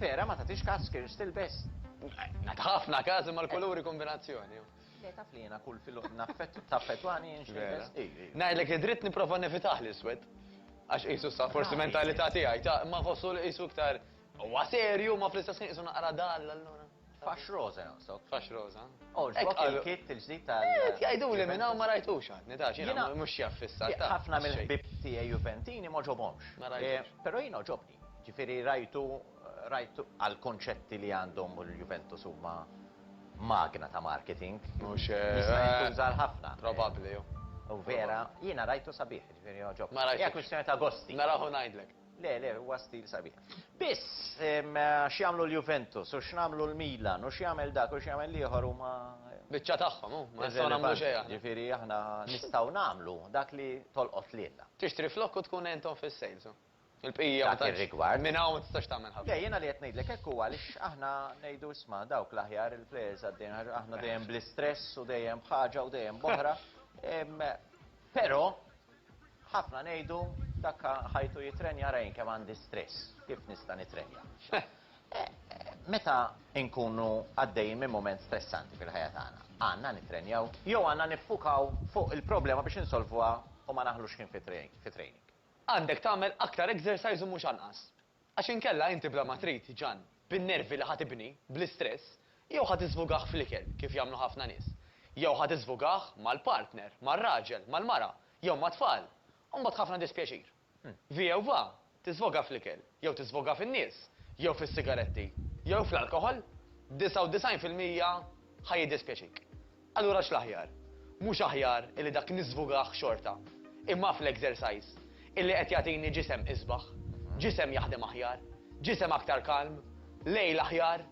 Vera ma tagħtix każ skirts tilbes. Nagħti ħafna każ imma l-kuluri kombinazzjoni. Le taf li jiena kull filgħodu naffett taffettwani jien x'nilbes. Vera. Ii, ii. Ngħidlek id-dritt nipprova nevitah l-iswed. Għax qisu sa forsi mentalità tiegħi ta' imma nħossu li qisu iktar huwa serju imma fl-istess ħin qisu naqra dall allura. Fax roża jonqsok. Fax roża. Għoġbok il-kit il-ġdid tal-. Qed jgħiduli minn hawn ma rajtux għad. Nitgħax jiena Jiena- mhux xjaf fis-sar taf. Ħafna mill-ħbieb tiegħi Juventini m'għoġobhomx. Ma rajtux. Però jien għoġobni. Ġifieri rajtu rajtu għall-kunċetti li għandhom u l-Juventus huma Magna ta' marketing. Mhux eh. Jista' jintuża għal ħafna. Probabbli hu. U vera, jiena rajtu sabiħ, jiġifieri jogħġob. Ma rajtux. Hija kwistjoni ta' gosti. Naraħ u ngħidlek. Le, le, huwa stil sabiħ. Biss, x'jagħmlu l-Juventus u x'nagħmlu l-Milan u x'jagħmel dak u x'jagħmel l-ieħor huma. Biċċa tagħhom hu, ma nistgħu nagħmlu xejn aħna. Jiġifieri aħna nistgħu nagħmlu dak li tolqot lilna. Tixtri flokk u tkun għenthom fis-sales hu. Il-bqija ma tantx, minn hawn ma tistax tagħmel ħafna. Le, jiena li qed ngħidlek hekk huwa għaliex aħna ngħidu isma' dawk l-aħjar il-plejers għaddejn għax aħna dejjem bl-istress u dejjem b'ħaġa u dejjem b'oħra. Però ħafna ngħidu dak ħajtu jittrenja ara jien kemm għandi stress, kif nista' nittrenja. Meta nkunu għaddejjin minn mument stressanti fil-ħajja tagħna, għandna nittrenjaw jew għandna niffukaw fuq il-problema biex insolvuha u ma naħlux ħin fit-training? Għandek tagħmel aktar exercise u mhux anqas. Għax inkella inti bla ma trid, ġann, bin-nervi li ħa tibni, bl-istress, jew ħa tiżvugah fl-ikel, kif jagħmlu ħafna nies, jew ħa tiżvugah mal-partner, mar-raġel, mal-mara, jew mat-tfal, u mbagħad ħafna dispjaċir. Vi jew va, tiżvogha fl-ikel, jew tiżvogha fin-nies, jew fis-sigaretti, jew fl-alkoħol, 99 fil-mija ħa jiddispjaċik. Allura x'l-aħjar? Mhux aħjar illi dak niżvugah xorta, imma fl-exercise, illi qed jagħtini ġisem isbaħ, ġisem jaħdem aħjar, ġisem aktar kalm, lejl aħjar,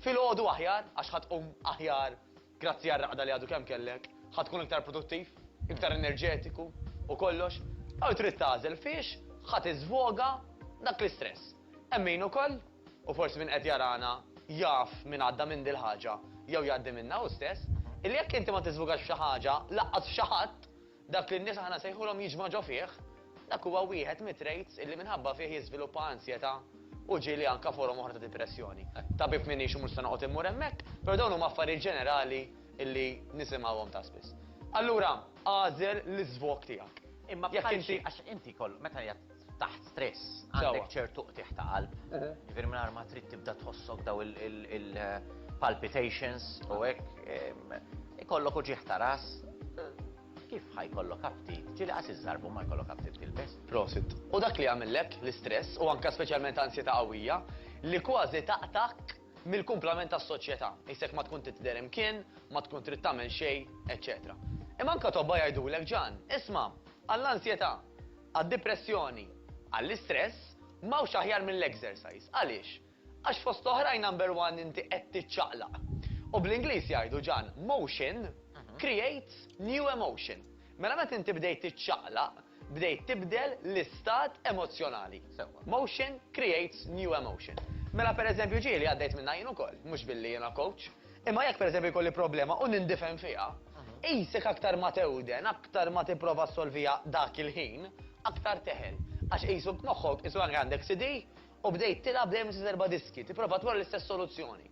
filgħodu aħjar, għax ħa tqum aħjar grazzi għar-raqda li għadu kemm kellek, ħa tkun iktar produttiv, iktar enerġetiku u kollox, jew trid tagħżel fiex ħa tiżvoga dak l-istress. Hemm min ukoll, u forsi min qed jarana jaf min għadda minn dil-ħaġa jew jgħaddi minnha hu stess, illi jekk inti ma tiżvugax f'xi ħaġa, lanqas f'xi ħadd, dak li n-nies aħna nsejħulhom jiġma ġo fih, dak huwa wieħed mit-traits illi minħabba fih jiżviluppa ansjetà u ġieli anke forom oħra ta' dipressjoni. Tabib m'iniex u mhux se noqgħod immur hemmhekk, però dawn huma affarijiet ġenerali illi nisimgħuhom ta' spiss. Allura, agħżel l-iżvog tiegħek. Imma bħal xi, għax inti jkollok, meta jgħid taħt stress, għandek ċertu qtigħ ta' qalb, jiġifieri mingħajr ma trid tibda tħossok daw il-palpitations u hekk, ikollok uġigħ ta' ras, kif ħa jkollok aptit? Ġieli qas iż-żarbu ma jkollok aptit tilbes. Prosit. U dak li jagħmillek l-istress u anke speċjalment ansjetà qawwija li kważi taqtgħek mill-kumplament tas-soċjetà, qisek ma tkun trid tidher imkien, ma tkun trid tagħmel xejn, eċċetera. Imma anke tobba jgħidulek, Ġan, isma' għall-ansjetà Għad-dipressjoni, għall-istress, m'hawnx aħjar mill-exercise. Għaliex? Għax fost oħrajn number one inti qed tiċċaqlaq. U bl-Ingliż jgħidu Ġan, motion creates new emotion. Mela meta inti bdejt tiċċaqlaq, bdejt tibdel l-istat emozzjonali. Sewwa. Motion creates new emotion. Mela pereżempju ġieli għaddejt minnha jien ukoll, mhux billi jiena coach. Imma jekk pereżempju jkolli problema u nindifen fiha, qisek aktar ma tewden, aktar ma tipprova ssolviha dak il-ħin, aktar teħel. Għax qisu b'moħħok, qisu anke għandek CD u bdejt tilgħab dejjem l-istess erba' diski, tipprova tmur għall-istess soluzzjoni.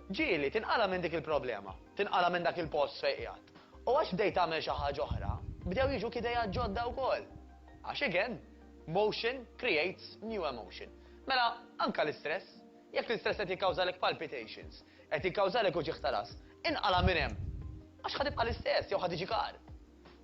Ġieli, tinqala' minn dik il-problema, tinqala' minn dak il-post fejn qiegħed. U għax bdejt tagħmel xi ħaġa oħra, bdew jiġuk ideat ġodda wkoll. Għax again, motion creates new emotion. Mela, anke l-istress. Jekk l-istress qed jikkawżalek palpitations, qed jikkawżalek uġigħ ta' ras, inqala' minn hemm! Għax ħa tibqa' l-istess jew ħa tiġi kar.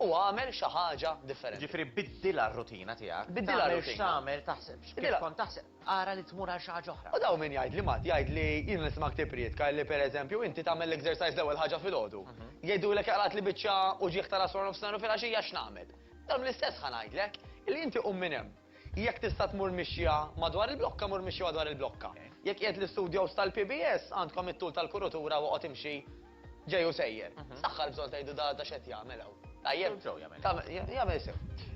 U agħmel xi ħaġa differenti. Jiġifieri biddilha r-rutina tiegħek. Biddilha r-rutina. Tagħmel x'tagħmel, taħsibx kif kont taħseb, ara li tmur għal xi ħaġa oħra. U daw min jgħidli Matt, jgħidli jiena nisimgħek tipprietka li pereżempju inti tagħmel l-exercise l-ewwel ħaġa filgħodu. Jgħidulek qlagħtli biċċa uġigħ ta' ras waranofsinhar u filgħaxija x'nagħmel? Dam l-istess ħa ngħidlek, illi inti qum minn hemm. Jekk tista' tmur mixja madwar il-blokka, mur mixja madwar il-blokka. Jekk qiegħed l-istudios tal-PBS, għandkom it-tul tal-kurutura u oqgħod imxi ġej u sejjer. X'daħħal bżonn tgħidu da da x'qed jagħmel hawn? Tajjeb. Sew jagħmel. Tagħmel jagħmel sew.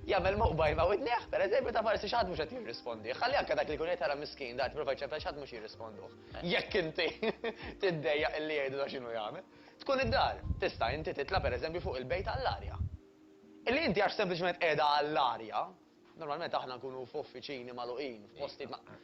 Jagħmel moqbajl ma' widnejh, per eżempju, ta' forsi xi ħadd mhux qed jirrispondih. Ħalli anke dak li jkun qed jara miskin, da qed jipprova jċempel xi ħadd mhux jirrisponduh. Jekk inti tiddejjaq illi jgħidu da x'inhu jagħmel. Tkun id-dar. Tista' inti titla' per eżempju fuq il-bejt għall-arja. Illi inti għax sempliċement qiegħda għall-arja, Normalment aħna nkunu f'uffiċini magħluqin, f'postijiet ma'.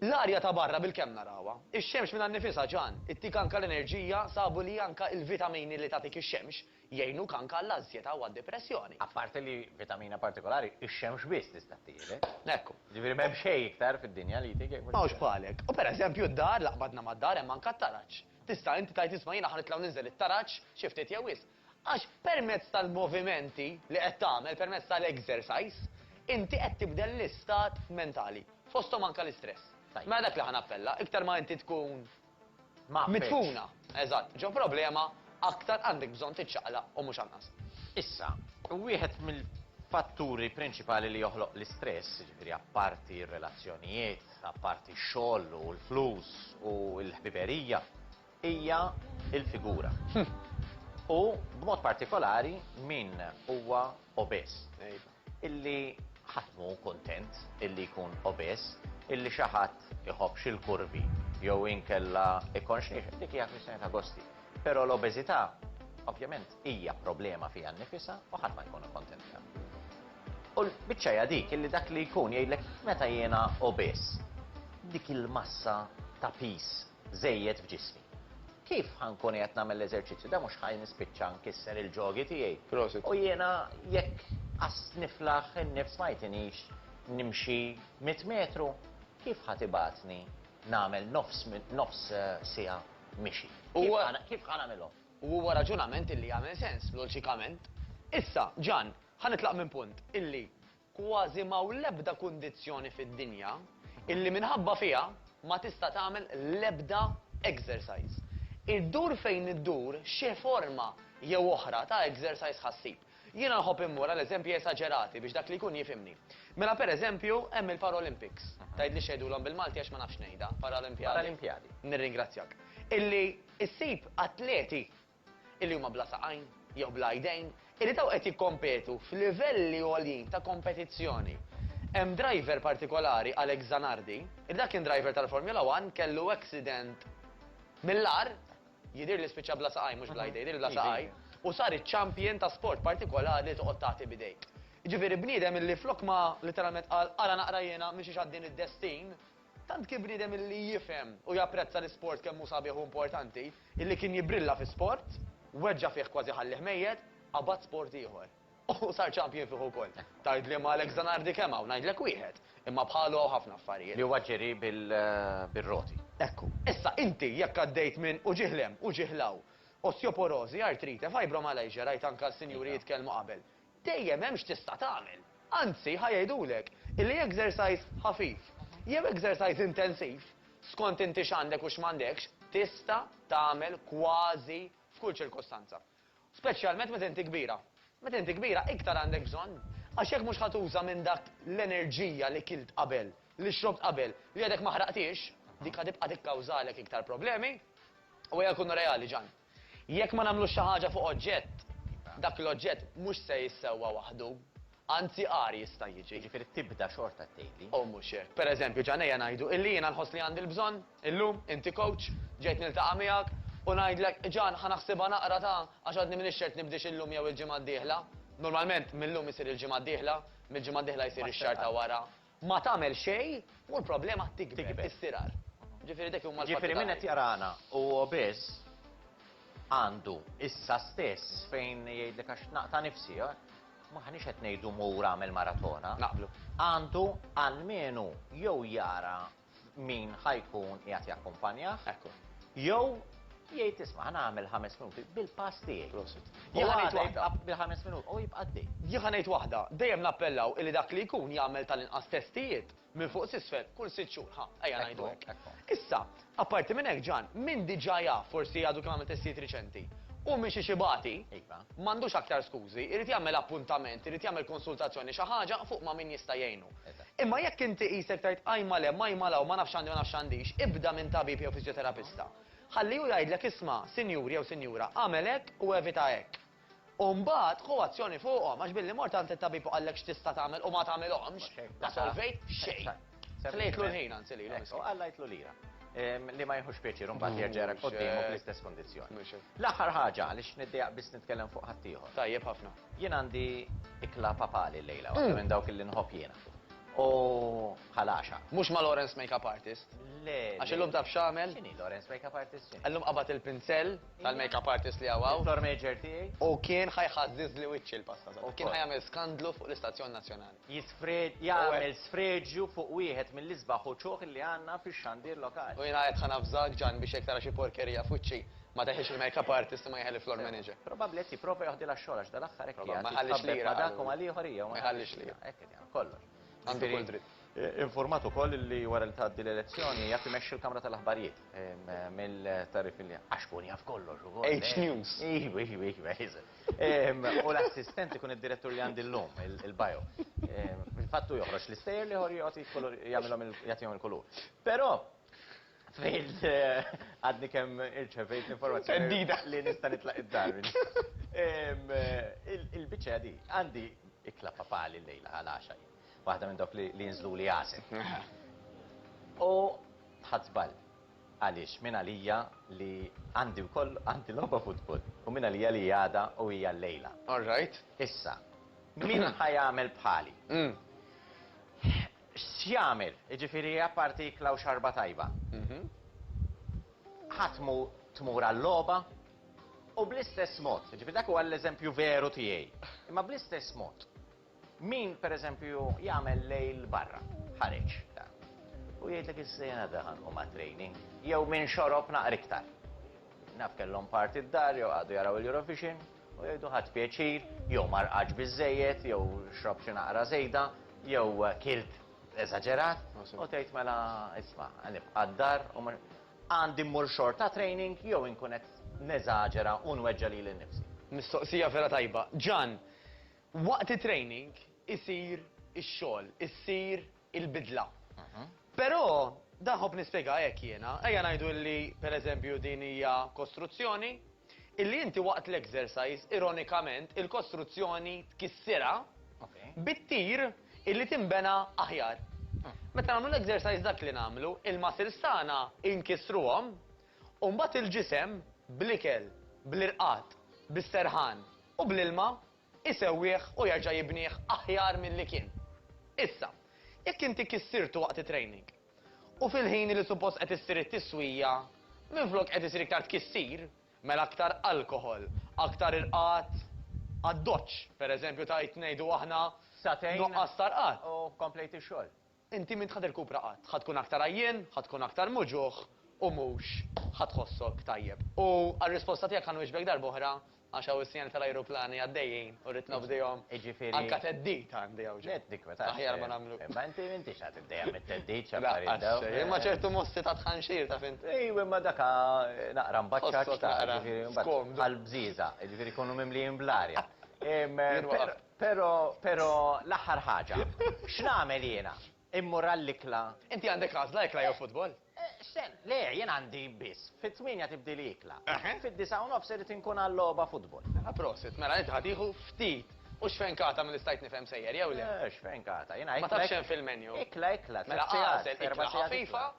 L-arja ta' barra bilkemm narawha. Ix-xemx minnha nnifisha, Ġan, ittik anka l-enerġija, sabu li anka il-vitamini li tagħtik ix-xemx jgħinuk anka għall-anzjetà u għad-depressjoni. Apparti li vitamina partikolari ix-xemx biss tista' tieħdek. Hekk. Jiġifieri m'hemm xejn iktar fid-dinja li jtik jekk mhux. M'hawnx bħalek. U per eżempju d-dar, la qbadna mad-dar hemm anka t-taraġ. Tista' inti tgħid isma' jiena ħa nitla' u ninżel it-taraġ xi ftit jew wisq. Għax permezz tal-movimenti li qed tagħmel, permezz tal-exercise, inti qed tibdel l-istat mentali, fosthom anke l-istress. Mela dak li ħa nappella, iktar ma inti tkun midfuna, eżatt, ġo problema, aktar għandek bżonn tiċċaqlaq u mhux anqas. Issa, wieħed mill-fatturi prinċipali li joħloq l-istress, jiġifieri apparti r-relazzjonijiet, apparti x-xogħol u l-flus u l-ħbiberija, hija l-figura, u b'mod partikolari min huwa obeż, illi ħadd m'hu kuntent illi jkun obeż, illi xi ħadd iħobbx il-kurvi jew inkella jkollx nixef, dik hija kwistjoni ta' gosti. Però l-obeżità, ovvjament, hija problema fiha nnifisha u ħadd ma jkun kuntent biha. U l-biċċa hija dik illi dak li jkun jgħidlek meta jiena obeż, dik il-massa ta' piż żejjed f'ġismi. Kif ħa nkun qiegħed nagħmel l-eżerċizzju da mhux ħa nispiċċa nkisser il-ġogi tiegħi. Prosit. U jiena jekk qas niflaħ in-nifs ma jtinix nimxi mitt metru, kif ħa tibgħatni nagħmel nofs nofs siegħa mixi? Kif ħa kif ħa nagħmilhom? U huwa raġunament illi jagħmel sens loġikament. Issa, Ġann, ħa nitlaq minn punt illi Kważi m'hawn l-ebda kundizzjoni fid-dinja illi minħabba fiha ma tista' tagħmel l-ebda exercise. Iddur fejn iddur xi forma jew oħra ta' exercise ħa ssib. Jiena nħobb immur għal eżempji esaġerati biex dak li jkun jifhimni. Mela per eżempju hemm il-Paralympics, tgħidli x'jgħidulhom bil-Malti għax ma nafx ngħidha, Paralimpjadi? Paralimpjadi. Nirringrazzjak. Illi ssib atleti illi huma bla saqajn jew bla idejn, illi ta' u qed jikkompetu f'livelli għoljin ta' kompetizzjoni. Hemm driver partikolari, Alex Zanardi, illi dak kien driver tal-Formula One, kellu accident mill-agħar, jidhirli li spiċċa bla saqajn, mhux bla idejn, jidhirli bla saqajn, u sar iċ-champion ta' sport partikolari li toqgħod tagħti b'idejk. Jiġifieri bniedem illi flok ma, litteralment qal, ara naqra jiena mixiex għad-din id-destin, Tant kien bniedem illi jifhem u japprezza l-isport kemm hu sabiħ u importanti, illi kien jibbrilla fi sport, weġġa' fih kważi ħallih mejjet, qabad sport ieħor. U sar champion fih ukoll. Tgħid liema Alex Zanardi kemm hawn, ngħidlek wieħed, imma bħalu hawn ħafna affarijiet. Li huwa ġġeri bir-roti. Hekk hu. Issa, inti jekk għaddejt minn u ġieħ l-hemm u ġieħ l-hawn, osteoporożi, artrite, fibromyalgia, rajt anke s-sinjuri jitkellmu qabel, Dejjem hemm x'tista' tagħmel. Anzi, ħa jgħidulek illi exercise ħafif jew exercise intensiv, skont inti x'għandek u x'm'għandekx, tista' tagħmel kważi f'kull ċirkustanza. Speċjalment meta inti kbira. Meta inti kbira iktar għandek bżonn. Għax jekk mhux ħa tuża minn dak l-enerġija li kilt qabel, li xrobt qabel, li għadek ma ħraqthiex, dik ħa tibqa' tikkawżalek iktar problemi. U ejja nkunu reali, Ġann. Jekk ma nagħmlux xi ħaġa fuq oġġett, dak l-oġġett mhux se jissewwa waħdu, anzi agħar jista' jiġi. Jiġifieri tibda xorta tgħidli. U mhux hekk. Per eżempju, ġa ngħejja ngħidu illi jiena nħoss li għandi l-bżonn, illum, inti kowċ, ġejt niltaqa' miegħek, u ngħidlek, Ġan, ħa naħsibha naqra ta', għax għadni m'iniex ċert nibdiex illum jew il-ġimgħa d-dieħla. Normalment, mil-lum isir il-ġimgħa d-dieħla, mill-ġimgħa d-dieħla jsir ix-xahar ta' wara, Ma tagħmel xejn u l-problema tikber, tistirar. Ġifieri dak huma l-fatti ta' Jiġifieri min qed jarana u obeż għandu issa stess fejn jgħidlek għax naqta' nifsi, m'aħniex qed ngħidu mur agħmel maratona. Naqblu. Għandu almenu jew jara f'min ħa jkun qiegħed jakkumpanjah. Ekku. Jew jgħid isma' ħa nagħmel ħames minuti bil-pass tiegħi. Prosit. Jien ħa ngħid waħda. Bil-ħames minuti u jibqa' għaddej. Jien ħa ngħid waħda, dejjem nappellaw illi dak li jkun jagħmel tal-inqas testijiet minn fuq s'isfel kull sitt xhur, ħa, ejja ngħidu hekk. Ekku, ekku. Issa, apparti minn hekk Ġan, min diġà jaf, forsi għadu kemm għamel testijiet riċenti, u miexiex ibati, Iva. m'għandux aktar skużi, irid jagħmel appuntament, irid jagħmel konsultazzjoni, xi ħaġa fuq ma' min jista' jgħinu. Imma jekk inti qisek tgħid qajma le, mgħajma la u ma nafx għandi u ma nafx għandix, ibda minn tabib jew fiżjoterapista. Ħalli hu jgħidlek isma', sinjur jew sinjura, agħmel hekk u evita hekk. U mbagħad ħu azzjoni fuqhom, għax billi mort għand it-tabib u qallek x'tista' tagħmel u ma tagħmilhomx, ma solvejt xejn. Ħlejtlu l-ħin anzi lilu miskin. U qallajtlu lira. Li ma jieħux pjaċir u mbagħad jerġa' jarack quddiemu bl-istess kundizzjoni. L-aħħar ħaġa, għaliex niddiegħaq biss nitkellem fuq ħaddieħor. Tajjeb ħafna. Jien għandi ikla papali llejla, waħda minn dawk li nħobb jiena. U bħal għaxa. Mhux ma' Lawrence Makeup Artist? Le. Għax illum taf x'għamel? X'inhi Lawrence Makeup Artist x'inhi? Illum qabad il-pinsell tal-makeup artist li hawn hawn. It-tour major tiegħi. U kien ħa jħażżiżli wiċċi l-pasta. Kien ħa jagħmel skandlu fuq l-istazzjon nazzjonali. jisfred, jagħmel sfreġju fuq wieħed mill-isbaħ uċuħ li għandna fix-xandir lokali. U jiena qed ħa navżak, Ġann, biex jekk tara xi porkerija f'wiċċi, ma teħilx il-makeup artist imma jeħel il-floor manager. Probabbli qed jipprova joħdilha x-xogħol għax dal-aħħar hekk qiegħed jitħabbet ma' dak u ma' l-ieħor, hija u ma jħallix lira. Hekk qed jagħmel kollox. Għandu kull dritt. Infurmat ukoll li wara li tgħaddi l-elezzjoni jaf imexxi l-kamra tal-aħbarijiet mill-tagħrif li għax kun jaf kollox ukoll. H-News. Ejwa, ejwa, ejwa, eżatt. U l-assistent ikun id-direttur li għandi llum, il-bio. Fil-fatt hu joħroġ l-istejjer, l-ieħor jgħoti l-kulur, jagħmilhom il-, jagħtihom il-kulur. Però, fejn għadni kemm irċevejt l-informazzjoni. Theddida! Li nista' nitlaq id-dar minn Il-biċċa hija din, għandi ikla papali llejla għall-għaxa jien. Waħda minn dawk li jinżluli għasel. U ħadt żball. Għaliex minn għalija li għandi wkoll għandi logħba futbol u minn għalija li hi għada u hija llejla. All right. Issa, min ħa jagħmel bħali? X'jagħmel? Jiġifieri apparti ikla u xarba tajba. Ħa tmur għal-logħba? U bl-istess mod, jiġifieri dak huwa l-eżempju veru tiegħi, imma bl-istess mod, Min, per eżempju, jagħmel lejl barra, ħareġ, ta. U jgħidlek is-sejn għadha ħa nqum għat-training. Jew min xorob naqar iktar. Naf kellhom party d-dar jew qagħdu jaraw il-Eurovision u jgħidu ħadt pjaċir, jew ma rqadx biżżejjed, jew xrobt xi naqra żejda, jew kilt eżaġerat, u tgħid mela isma' nibqa' d-dar u mhux. Għandi mmur xorta għat-training jew inkun qed neżaġera u nweġġa' lili nnifsi? Mistoqsija vera tajba. Ġan, Waqt it-training isir ix-xogħol, issir il-bidla. Però, dan nħobb nispjegah hekk jiena, ejja ngħidu li pereżempju din hija kostruzzjoni, illi inti waqt l-exercise, ironikament, il-kostruzzjoni tkissirha bit-tir illi tinbena aħjar. Meta nagħmlu l-exercise dak li nagħmlu, il-muscles tagħna inkissruhom u mbagħad il-ġisem bl-ikel, bl-irqad, bis-serħan, u bl-ilma jsewwih u jerġa' jibnih aħjar milli kien. Issa, jekk inti kissirtu waqt it-training u fil-ħin li suppost qed issir it-tiswija, minflok qed isir iktar tkissir, mela aktar alkoħol, aktar irqad għad-doċċ, pereżempju tgħid ngħidu aħna nuqqas ta' rqad. Satejn u komplejt ix-xogħol. Inti m'int ħa tirkupra qatt. Ħa tkun aktar għajjien, ħa tkun aktar muġugħ u mhux ħa tħossok tajjeb. U għar-risposta tiegħek ħa nwieġbek darb'oħra għax hawn is-sinjali tal-ajruplani għaddejjin u rrid nobdihom. Jiġifieri. Anke theddid għandi hawn ġo. Aħjar ma nagħmlu. Imma inti m'intix ħa tiddejjaq mit-theddid x'affarijiet dawn. Lanqas xejn. Imma ċertu mossi ta' tħanxir, taf int. Ejw, imma dak ħa naqra mbaċċaċċ, taf, jiġifieri mbagħad bħall-bżieża, jiġifieri jkunu mimlijin bl-arja. Jien waqaft. Pero, pero, l-aħħar ħaġa. X'nagħmel jiena? Immur għall-ikla? Inti għandek għażla, ikla jew futbol? X'sen, le, jien għandi biss, fit-tmienja tibdili ikla. Fid-disgħa u nofs irid inkun għal-logħba futbol. Mela prosit, mela inti ħa tieħu ftit u xfenkata milli stajt nifhem sejjer jew le? Xfenkata, jiena ikla. Ma tafx x'hemm fil-menu? Ikla, ikla, tliet sigħat, erba' sigħat. Mela agħżel ikla ħafifa